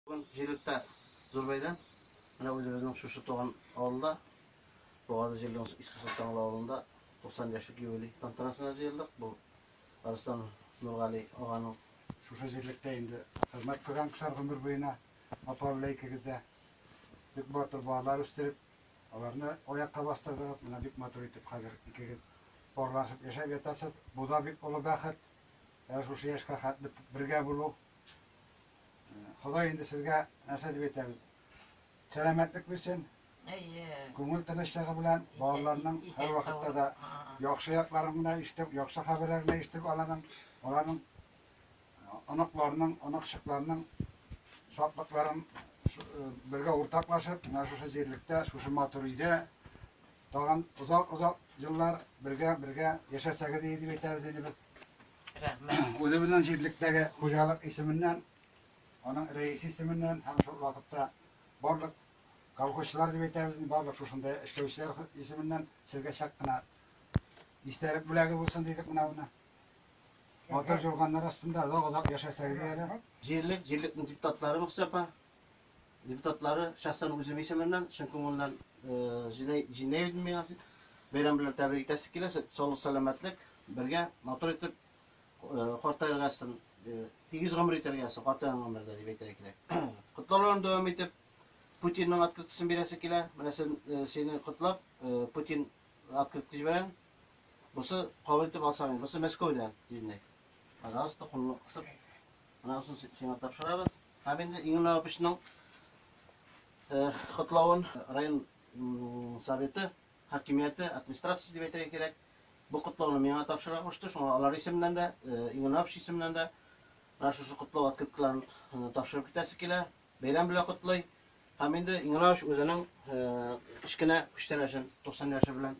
Бүген җирлектә зур бәйрәм. Менә үзебезнең шушы туган авылда, Бугазы җирлегенең Иске Солтанлы авылында 90 яшьлек юбилей тантанасына җыелдык. Бу Арыслан Нургали аганың. Шушы җирлектә инде хезмәт кылган кешеләр гомер буена апа белән икегез дә бик матур балалар үстереп, аларны аякка бастырдыгыз. Менә бик матур итеп хәзер икегез парлашып яшәп ятасыз. Бу да бик олы бәхет. Әнә шушы яшькә хәтле бергә булу. Ходай инде сезгә нәрсә дип әйтәбез? Сәламәтлек бирсен. Әйе. Күңел тынычлыгы белән балаларның һәр вакытта да яхшы якларын гына ишетеп, яхшы хәбәрләрен генә ишетеп аланың, аларның оныкларының, оныкчыкларының шатлыкларын бергә уртаклашып, менә шушы җирлектә, шушы матур өйдә тагын озак-озак еллар бергә-бергә яшәсәгез иде дип әйтәбез инде без. Рәхмәт. Үзебезнең җирлектәге хуҗалык исеменнән, аның рәисе исеменнән һәм шул вакытта барлык колхозчылар дип әйтәбез, барлык шушында эшләүчеләр исеменнән сезгә чак кына истәлек бүләге булсын дидек менә аны. Матур җурганнар астында озак-озак яшәсәгез әле. Җирлек, җирлекнең депутатлары Мөхсәпа, депутатлары шәхсән үзем исеменнән чын күңелдән җиңә идем миңа. Бәйрәм белән тәбрик итәсе килә. Саулык, сәламәтлек, бергә матур итеп картайыргасын, тигез гомер итәргәсен, картайган гомердә дип әйтергә кирәк. Котлауларын дәвам итеп, Путинның открытысын бирәсе килә. Менә сине котлап, Путин открытка җибәрәм. Бусы кабул итеп алсаң, бусы Мәскәүдән, дидек. Пожалуйста, куллык кысып. Анасын сиңа тапшырабыз. Һәм инде Иңнә Апычның котлавын район советы, хакимияте, администрациясе дип әйтергә кирәк. Бу котлауны миңа тапшыра кушты. Шуңа алар исеменнән дә, Иңнә Апыч исеменнән дә менә шушы котлау открыткаларын тапшырып китәсе килә. Бәйрәм белән котлый. Һәм инде Иңнә Апыч үзенең кечкенә күчтәнәчен 90 яше белән